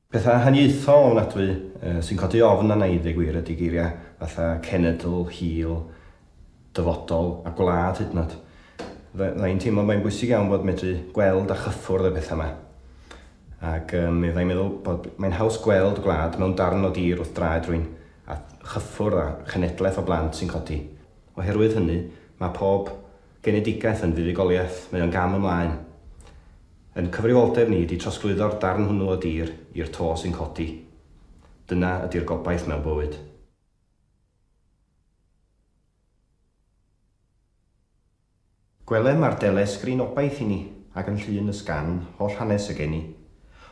Pethau haniaethol ofnadwy sy'n codi ofn arna i ddeu gwir ydy geiriau fatha cenedl, hil, dyfodol a gwlad hyd yn oed. Fydda i'n teimlo mae'n bwysig iawn bod medru gweld a chyffwrdd y pethau yma. Ac um, fydda i'n meddwl bod mae'n haws gweld gwlad mewn darn o dir wrth draed rwy'n a chyffwrdd a chenedlaeth o blant sy'n codi. Oherwydd hynny, mae pob Genedigaeth yn fuddugoliaeth, mae o'n gam ymlaen. Yn cyfrifoldeb ni ydi trosglwyddo'r darn hwnnw o dir i'r to sy'n codi. Dyna ydi'r gobaith mewn bywyd. Gwelem ar delesgrin obaith i ni, ac yn llun y sgan, holl hanes y geni.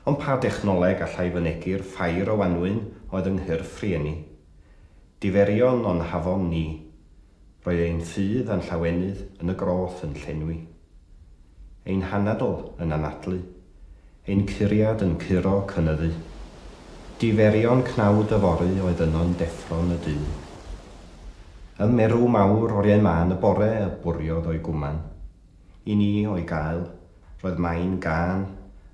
Ond pa dechnoleg allai fynegi'r ffair o wanwyn oedd yng nghyrff rhieni? Diferion o'n hafon ni. Roedd ein ffydd a'n llawenydd yn y groth yn llenwi. Ein hanadl yn anadlu. Ein curiad yn curo cynyddu. Diferion cnawd yfory oedd yno'n deffro'n y du. Ym merw mawr oriau mân y bore y bwriodd o'i gwman. I ni, o'i gael, roedd main gân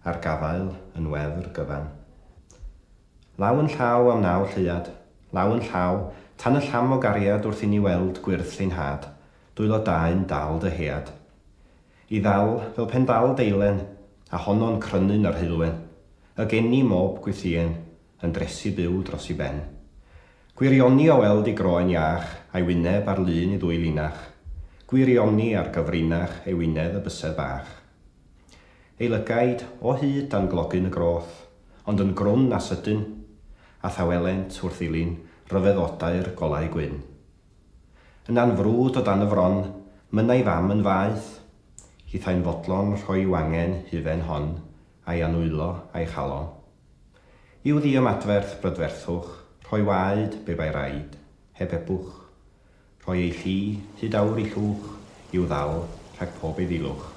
ar gafael yn wefr gyfan. Law yn llaw am naw lleuad, law yn llaw, tan y llam o gariad wrth inni weld gwyrdd llyn had, dwylo dae'n dal dy head. I ddal, fel pen dal deilen, a honno'n crynu'n yr heulwen, y geni mob gwythïen, yn dresu byw dros i ben. Gwirioni o weld i groen iach, a'i wyneb ar lun i ddwy linach, gwirioni ar gyfrinach ei wynedd y bysedd bach. Ei lygaid o hyd dan glogyn y groth, ond yn grwn a sydyn, a thawelent wrth ddilyn rhyfeddodau'r golau gwyn. Yna'n frwd o dan y fron, mynnai fam yn faeth, hithau'n fodlon rhoi wangen hufen hon a'i annwylo a'i chalo. I'w ddiymadferth brydferthwch, rhoi waed, be bai raid, heb ebwch. Rhoi ei chi, hyd awr i llwch, i'w ddal, rhag pob eiddilwch.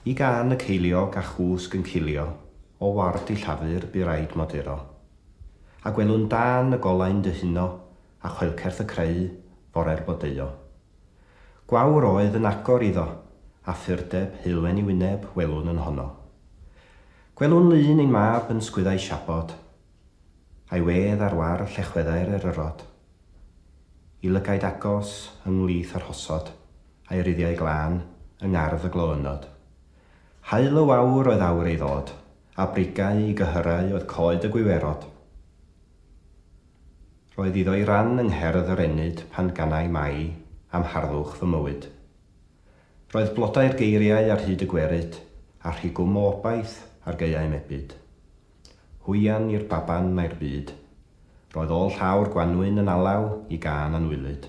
Y gân y ceiliog a chwsg yn cilio, o ward i llafur bu raid moduro. A gwelwn dân y golau'n dyhuno, a choelcerth y creu, fore'r bodeuo. Gwawr oedd yn agor iddo, a phurdeb, heulwen i wyneb, welwn yn honno. Gwelwn lun ein mab yn sgwyddau siabod, A'i wedd ar wâr llechweddau'r eryrod. Y lygaid agos ynghlith yr hosod, a'i ruddiau glân yng ngardd y gloynnod. Haul y wawr oedd awr ei ddod, a brigau i gyhyrau oedd coed y gwiwerod. Roedd iddo'i ran yng ngherdd yr ennyd pan ganai mai am harddwch fy mywyd. Roedd blodau'r geiriau ar hyd y gwerid, a rhigwm o obaith ar gaeau mebyd. Hwyan i'r baban mae'r byd. Roedd ôl llaw'r gwanwyn yn alaw i gân anwylyd.